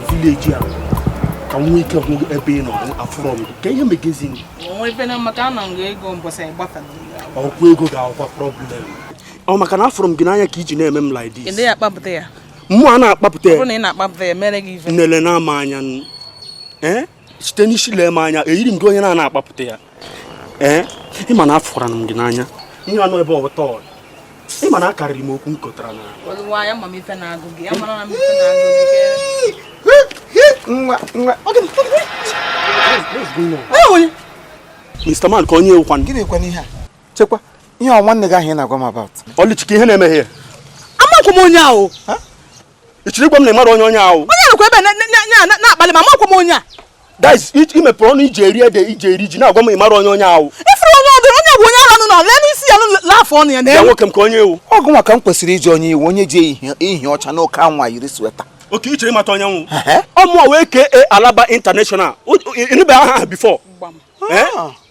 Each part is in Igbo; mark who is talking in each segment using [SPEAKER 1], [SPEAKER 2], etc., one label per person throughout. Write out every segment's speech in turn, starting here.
[SPEAKER 1] vileji a ka m nwee ike hụ ebe ị nọ afụrọ m ka ihe megezi m ọ wụ ego ga-akwa problem ọ maka na afụrụ m gị n'anya ka i ji na-eme m like this mụwa na-akpapụta ya nele na-ama anya site n'isi lee m anya eyiri m gị onye a na-akpapụta ya ee ị ma na afụranụ m gị n'anya ihe anụ ebe ọtọ ị ma na akarịrị m okwu m kotara na Mr. Man ka onye ị wụkwanụ gịnị kwanụ ihe a chekwa ihe ọ nwanne gị ahụ ị na-agwa m about Oluchi kee ihe ị na-eme here amakwa m onye ahụ ị chọrọ ịgwa m na ị mara onye onye ahụ onye nọkwa ebe na-akpali m amakwa m onye a guys i mepere ọnụ i ji eri ede i ji eri ji na-agwa m ị mara onye onye ahụ ị fụrụ onye ọdụ onye bụ onye ahụ nọ lee n'isi ya n'afọ ọnụ ya na nwoke m ka onye ị wụ ọ gịnwa ka m kwesịrị ịjụ onye ị wụ onye ji ihe ọcha n'oke anwụ a yiri sweater okay ị chọrọ ịmata onye m wụ ọ mụwa wee kee Alaba International ị nụbeghị aha a before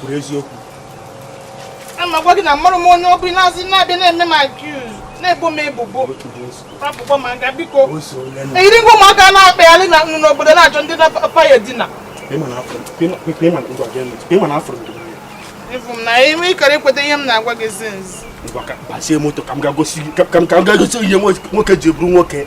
[SPEAKER 1] kwuru eziokwu ka m na-agwa gị na amarọ m onye ọ bụ na-azị na-abịa na-eme m accuse na-ebo m ebubo rapụkwa m aka biko eyiri m gị ụmụaka na-akpagharị na nnu n'obodo na-achọ ndị na-apa ya dina ịfụ m na ime ịkara ekweta ihe m na-agwa gị zinzi ngwa ka m ga gosi ihe nwoke ji abụrụ nwoke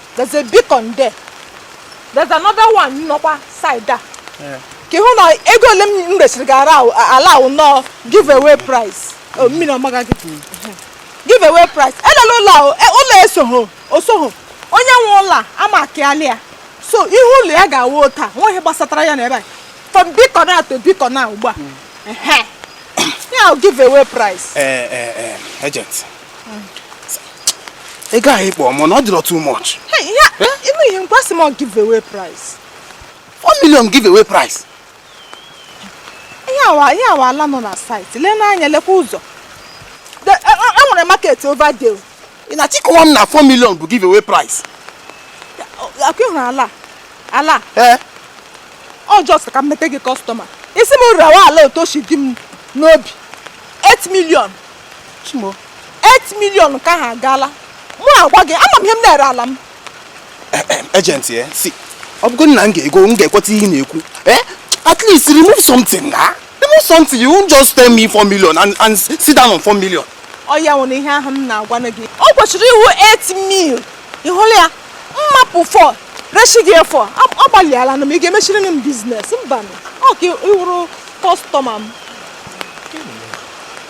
[SPEAKER 1] there's a beacon there there's another one nọkwa side a ka ị hụ na ego ole m resịrị gị ara ala ahụ nọọ give away price oh, mmiri ọmaga gị give away price elela ụlọ ahụ e, ụlọ esoghị osoghị onye nwe ụlọ a ama akịalị ya so ihe ụlọ ya ga-awụ taa nweghị ihe gbasatara ya na ebe a from beacon a to beacon a ugbu a ya give away price eh, eh, eh, agent ị gaghị ịkpọ m na ọ dịrọ too much ime ihe nkwasị m give away price 4 million give away price ihe a wụ ihe a wụ ala nọ na site lee n'anya lekwa ụzọ e nwere e, e market over there ị na-achọ ịkọwa m na 4 million bụ give away price ọkwa ị hụrụ ala ala ee ọ just ka m mete gị kọstọma ị sị m rewe ala otu o si dị m n'obi 8 million chimo 8 million ka ha agaala mụ agwa gị ama m ihe m na-ere ala m agent ya eh, see ọ bụgo na m ga-ego m ga-ekweta ihe ị na-ekwu eh at least remove something na ah. remove something you won't just tell me 4 million and, and sit down on 4 million ọ ya wụrụ ihe ahụ m na-agwa gị ọ kwesịrị ịwụ 8 mil ị hụrụ ya m mapụ 4 reshi gị ya 4 agbalịala na m ị ga-emechiri m biznes mba ọ ka ị wụrụ kọstọma m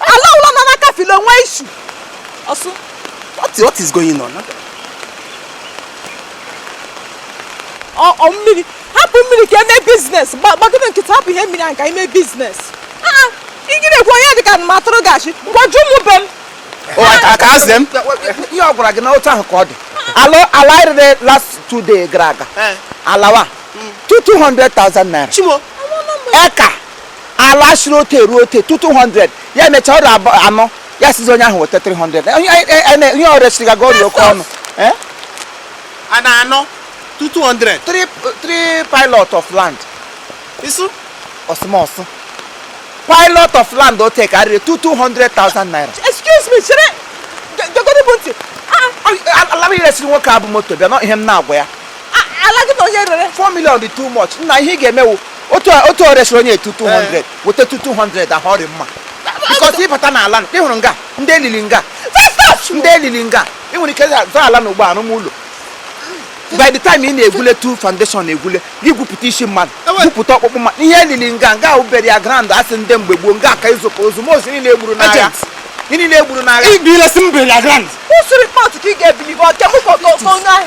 [SPEAKER 1] ala ụlọ nọ n'aka filo nwa isu ọsụ what,
[SPEAKER 2] what is
[SPEAKER 1] going on ọ mmiri hapụ mmiri ka eme biznes gbagide nkịta hapụ ihe mmiri ahụ ka eme biznes iji na-ekwu ihe dị ka ma atụrụ gachi ga jụọ ụmụ be m can
[SPEAKER 2] ask them ihe ọ gwara gị
[SPEAKER 3] na otu ahụ ka ọ dị ala rere last two day gara aga alawa 200,000 naira
[SPEAKER 2] eka
[SPEAKER 3] ala siri otu eruo otu tu 200 ya emechaa ọrụ abụ- anọ ya sịzie onye ahụ weta 300 Onye- anyị- anyị- anyị- ihe o resịrị gị ọ rị oke ọnụ Eh?
[SPEAKER 2] ala anọ tu 200 three three
[SPEAKER 3] plot of land isu ọsụmọsụ plot of land o tek arịrị tu 200,000 naira excuse me
[SPEAKER 1] chere dogoro bụ ntị ala
[SPEAKER 3] m resịrị nwoke a bụ moto bịa nụ ihe m na-agwa ya ala gị na onye
[SPEAKER 1] rere 4 million dị too much
[SPEAKER 3] nna ihe ị ga-eme wụ otu a- otu o resịrị onye a tu 200 weta tu 200 ahụ ọ dị mma bikọs ị bata n'ala na- ị hụrụ nga ndị e lili nga ndị e lili nga ị nwere ike zụọ ala na ị ga-arụ ụlọ by the time ị na-egwule tu foundation na-egwule ị gwupụta isi mmadụ Ewe. gwupụta ọkpụkpụ mmadụ ihe e lili nga nga ọ burial ground asị ndị mgbe gboo nga a ka izụka ozu ma ozu niile e gburu n'agha Agent. Ndị niile e gburu n'agha ibile si na burial ground Who should report to King
[SPEAKER 1] Ebilibo? Kemu Koko Konu ahụ.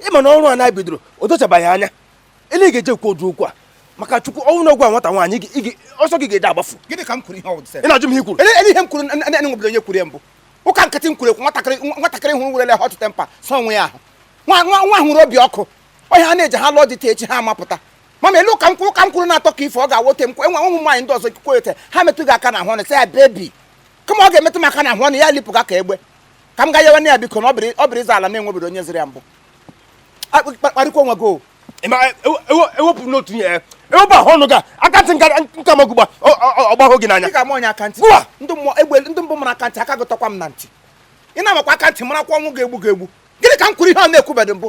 [SPEAKER 3] ị ma na ọrụ a anyị bidoro o dochabaghị anya ele ị ga-eji kwuo ụdị okwu a maka chukwu ọ wụ na a gwa nwata nwaanyị gị- gị- ọsọ gị ga-eji agbafu gịnị ka m kwuru ihe ọ ị na-ajụ m ihe i kwuru ele ihe m kwuru na- na- na enwebedo onye kwuru ya mbụ ụka nkịtị m kwuru ekwu nwatakịrị nwa- nwatakịrị hụrụ nwere hot temper sọ onwe ya ahụ nwa nwa nwa hụrụ obi ọkụ ọ wụ ya ha na-eji ha lụọ di echi ha amapụta mama elu ụka m kwuru ụka m kwuru na-atọ ka ife ọ ga-awote m enwe ụmụ nwaanyị ndị ọzọ kwuo ete ha metụ gị aka na ahụ ọnụ sị ya bebi kama ọ ga-emetụ m aka na ahụ ọnụ ya lipụ gị aka egbe ka m ga yewanụ ya biko na ọ bụrụ ịza ala na enwebedo onye ziri ya mbụ kparịkwa onwe gị e wepụ n'otu ihe e wepụ ahụ ọnụ gị akantị nke m ga-agba ọgbahụ gị n'anya ga m onye akantị ndị mbụ mara akantị aka gị takwa m na ntị ị na-amakwa akantị marakwa ọnwụ ga-egbu gị egbu gịnị ka m kwuru ihe a na-ekwubedo mbụ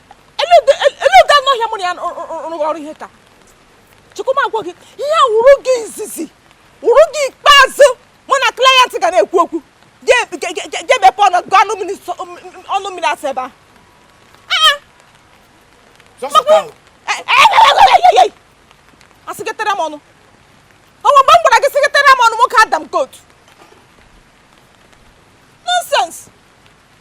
[SPEAKER 3] ele ụdị anụ ọhịa mụ na ya rụrụ ọrụ ihe ka chukwuma gwa gị ihe a wụrụ gị izizi wụrụ gị ikpeazụ mụ na klayent ga na-ekwu okwu gị emepe ọnụ gị ọnụ mmiri asị ebe ahụ asịgetara m ọnụ ọ wụ mgbe m gwara gị sịgetara m ọnụ nwoke adam kot nonsense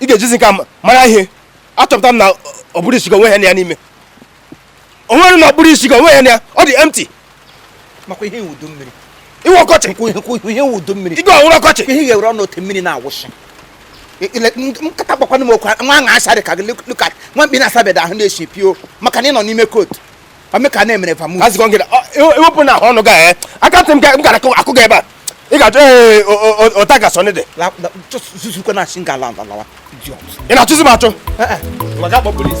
[SPEAKER 3] ị ga-ejisi ike mara ihe achọpụta m na ụbụrụ isi gị o nweghị ihe nọ ya n'ime o nwere na ụbụrụ isi gị o nweghị ihe nọ ya ọ dị empty makwa ihe ị wụ udu mmiri ị wụ ọkọchị ihe ị wụ udu mmiri ị ga-awụrụ ọkọchị ihe ga-ewere ọnụ ote mmiri na-awụsị nkata gbakwana m okwu nwa aṅa asarị ka gị look at nwa mkpi na-asabedo ahụ na-esi pio maka na ị nọ n'ime kootu ameka na emere famu asị gị ewepụ na ọnụ gị ya aka ntị m ga-akụ gị ebe a ị ga-achọ ee ụta ga sọnị dị zuzukwa na asị ngala alawa ị na-achụzi m achụ maka akpọ polis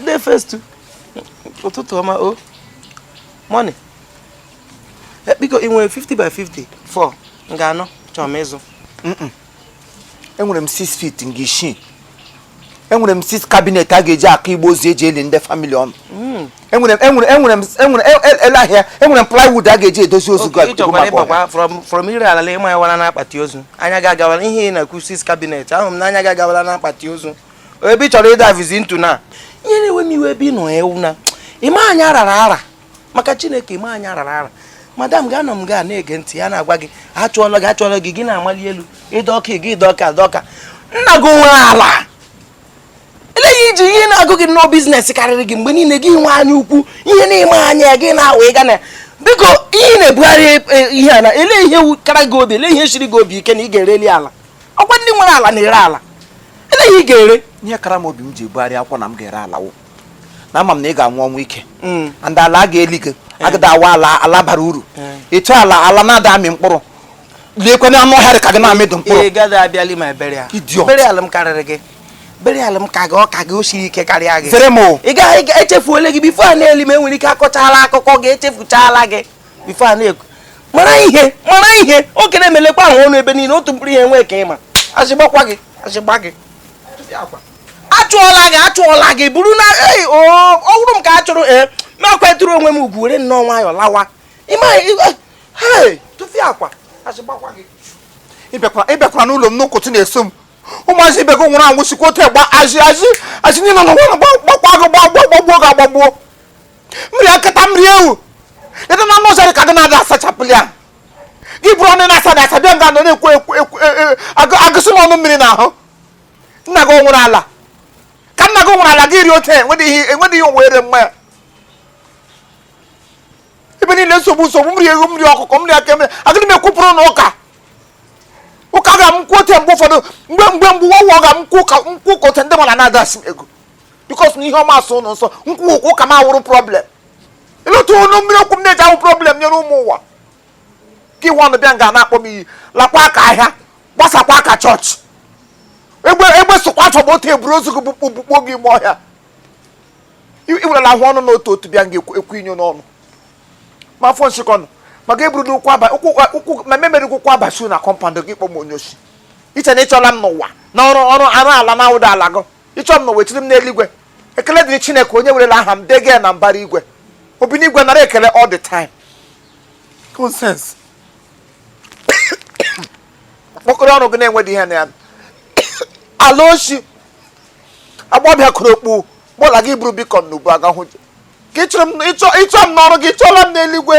[SPEAKER 3] Ndị eh, first ụtụtụ ọma o oh. morning eh, biko ị nwere 50 by 50 fọ nga anọ chọrọ m ịzụ
[SPEAKER 2] enwere m 6 feet nke isii enwere m 6 cabinet a ga-eji aka igbe ozu eji eli ndị family ụnụ hmm. enwere m enwere enwere m enwere e, e, ele ahịa enwere m plywood a ga-eji edozi ozu gị
[SPEAKER 3] from ire ala ịma ya wara na akpati ozu anya gị agawala ihe ị na-ekwu 6 cabinet ahụ m na anya gị agawala na akpati ozu ebe ị chọrọ ịdivezi into na ihe na-ewe m iwe ebe ị nọ ewu na ịma anya rara ara maka chineke ịma anya rara ara madam gị anọ nga a na-ege ntị ya na-agwa gị achụọla gị achụọla gị gị na-amali elu ịdọ ọka gị ịdọ ọka ịdọ ọka nna gị nwe ala eleghị iji ihe na-agụ gị nnọọ business karịrị gị mgbe niile gị nwe anya ukwu ihe na-eme anya gị na-awụ ịga na biko ihe na-ebugharị e, e, ihe a na ele ihe kara gị obi ele ihe shiri gị obi ike na ị ga-ereli ala ọkwa ndị nwere ala na-ere ala eleghị ị ga-ere ihe kara m obi m ji
[SPEAKER 2] ebugharị akwụkwọ na m ga-ere ala wụ na ama m na ị ga-anwụ ọnwụ ike mm. and ala a ga-eli gị eh. agada awụ ala bara uru eh. ịchọ ala na-ada amị mkpụrụ lekwa na anụ ọhịa ka gị na-amịdụ mkpụrụ ị gaghị abịali m
[SPEAKER 3] burial burial m karịrị gị burial m ka gị ọ ka gị o siri ike karịa gị zere m ị
[SPEAKER 2] gaghị
[SPEAKER 3] echefuole gị before a na-eli m enwere ike akọchala akụkọ gị echefuchala gị before a na-ekwu mara ihe mara ihe oge na-emelekwa ahụ ọnụ ebe niile otu mkpụrụ ihe nwee ka ịma azị gbakwa gị azị gbaa gị achụọla gị achụọla gị bụrụ na ei ọ bụrụ m ka a chụrụ ee ma kwetụrụ onwe m ugwu were nnọọ nwayọọ lawa tụfịakwa ịbịakwara
[SPEAKER 2] n'ụlọ m n'ụtụtụ na-eso m ụmụazị ibe gị nwụrụ anwụ sikwa otu a gbaa azị azị azị niile nọ n'ụwa gbakwa gị gbagbuo gbagbuo gị agbagbuo mmiri nkịta mmiri ewu leta na anụ ọzara ka gị na-ada asachapụli ya gị buru ọnụ na-asa na asa bịa nga nọ na-ekwu agbụsị m ọnụ mmiri n'ahụ nna gị nwere ala ka nna gị nwere ala gị rie otu enwedịghị ihe o nwere mma ya ebe niile nsogbu nsogbu mmiri eghu mmiri ọkụkọ mmiri aka mmiri agịrị m ekwupụrụ ụnụ ụka ụka ga m kwụ ote mgbe ụfọdụ mgbe mgbe mgbe ụwa ụwa ga m kwụ ka nkwụ ka ote ndị mara na-adasi m ego because na ihe ọma asọ ụnụ nsọ m kwuo ụka m awụrụ problem ịlụta ọnụ mmiri okwu m na-eji awụ problem nyere ụmụ ụwa ka iwe ọnụ bịa nga na-akpọ m iyi lakwa ka ahịa gbasakwa ka chọọchị egbe egbe sokwa afọ ma otu eburu ozu gị bụkpụ bụkpụ gị ime ọhịa iwerela ahụ ọnụ na otu otu bịa nga ekwu inyo n'ọnụ ma afọ nsikọnụ maka eburu n'ụkwụ aba ụkwụ ma memere gị ụkwụ abasi na compound gị kpọ m onye oshi iche na ịchụla m n'ụwa na ọrụ ọrụ arụ ala na ụda ala gị ịchụ m n'ụwa echiri m n'eluigwe ekele dịrị chineke onye werela aha m dege na mbara igwe obinigwe nara ekele all the time nonsense mkpọkọrọ ọrụ gị na-enweghị ihe na ya ala oshi agbọbịa kpuru okpu bowler gị buru beacon n'ubu agahụ ji ka ịchụ m n'ọrụ gị ịchụla m n'eluigwe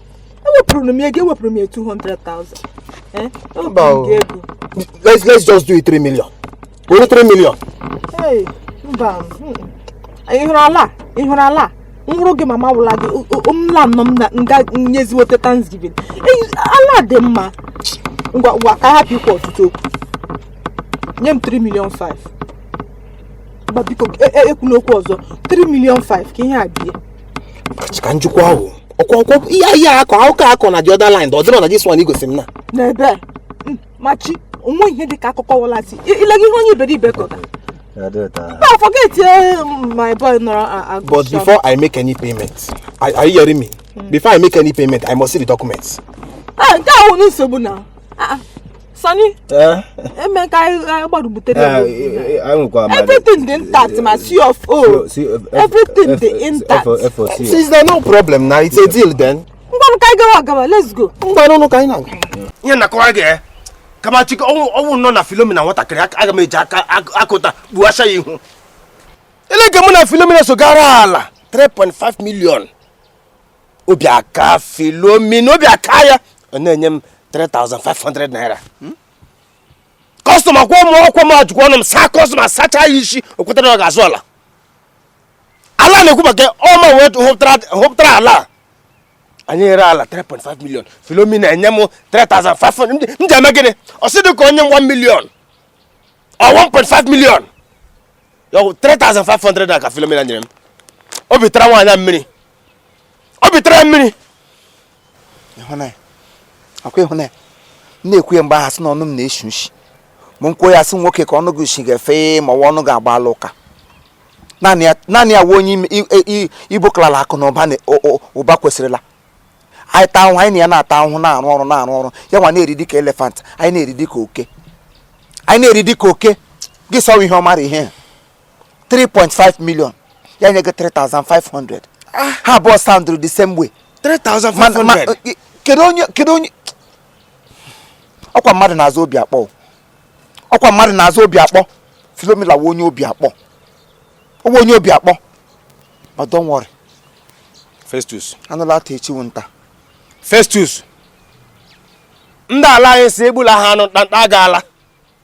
[SPEAKER 3] ewepụrụ m ego ewepụrụ
[SPEAKER 1] m ya 200,000 eh? ewepụrụ m ego let's
[SPEAKER 3] let's just do it 3 million only 3 million hey
[SPEAKER 1] mba ịhụrụ ala ịhụrụ ala nwụrụ gị mama wụla gị mla nọ m na nga nyeziwote thanksgiving ala dị mma ngwa ngwa ka a hapụ ikwu ọtụtụ okwu nye m 3 million 5 biko ekwuna okwu ọzọ 3 million 5 ka ihe a bie Chika njikwa
[SPEAKER 3] ahụ ọkwa ọkwa ihe ihe akọ akụkọ akọ na the other line ọ dịrọ na this one igosi m na n'ebe a Mm,
[SPEAKER 1] machi onwe ihe dị ka akụkọ wọlasị ilegị ihe onye iberibe kọta Ya dị ụtọ. nna forget eh, my boy nọrọ a- a- but agụsọ. before i
[SPEAKER 3] make any payment are are you hearing me before i make any payment i must see the documents Ah, nke ahụ
[SPEAKER 1] awụ nsogbu na Ah, ah. Sani, eh? Emeka, I, I about to tell eh, you. I will come. Everything dị intact, my C of O. Everything dị intact. Since there's no
[SPEAKER 3] problem now, it's a deal then. Ngwanụ ka anyị gawa gawa, let's
[SPEAKER 1] go. Ngwanụ nụ ka anyị na. Nye na kwa
[SPEAKER 3] ge. Kama Chika ọ wụ ọ wụnụ na Philomena nwatakịrị aga m eji aka akụta gbuwasha ya ihu. Elee ka mụ na Philomena so ga ree ala 3.5 million. obi aka Philomena obi aka ya ọ na-enye m 3500 naira kọstọma kwụọ m ọ kwa m ejikwa ọnụ m saa kọstọma sachaa ya ishi o kweta na ọ ga-azụ ala ala na-ekwu maka ọ mụwa hụpụtara- hụpụtara ala a. anyị eree ala 3.5 million Philomena enye m 3500 m ji- m ji eme gịnị ọ sịdị ka o nye m 1 million or 1.5 million Ya ọ bụ 3500 na ka Philomena nyere m obi tara nwaanyị a mmiri obi tara
[SPEAKER 2] mmiri ịhụna ya ọkwa ịhụna ya na-ekwu ya mgbe a ha sị na ọnụ m na-eshi ushi ma nkwuo ya sị nwoke ka ọnụ gị shi ga-efe ma ọ wụ ọnụ ga-agba ala ụka naanị ya wụ onye Igbo kalala akụ na ụba kwesịrịla anyị taa ahụhụ anyị na ya na-ata ahụhụ na-arụ ọrụ na-arụ ọrụ ya nwa na-eri dịka elephant anyị na-eri dịka oke anyị na-eri dịka oke gị sọwa ihe ọ mara ihe 3.5 million ya nye gị 3500 ah. ha abụọ soundụrụ the same way 3500
[SPEAKER 3] eh, kedu onye
[SPEAKER 2] kedu onye ọkwa mmadụ na-aza obi akpọ ọkwa mmadụ na-aza obi akpọ philomena wụ onye obi akpọ ọ wụ onye obi akpọ ma don't
[SPEAKER 3] worry festus anụ laa
[SPEAKER 2] taa echi wụ nta festus
[SPEAKER 3] ndị ala anyị sị egbula ha anụ nta aga ala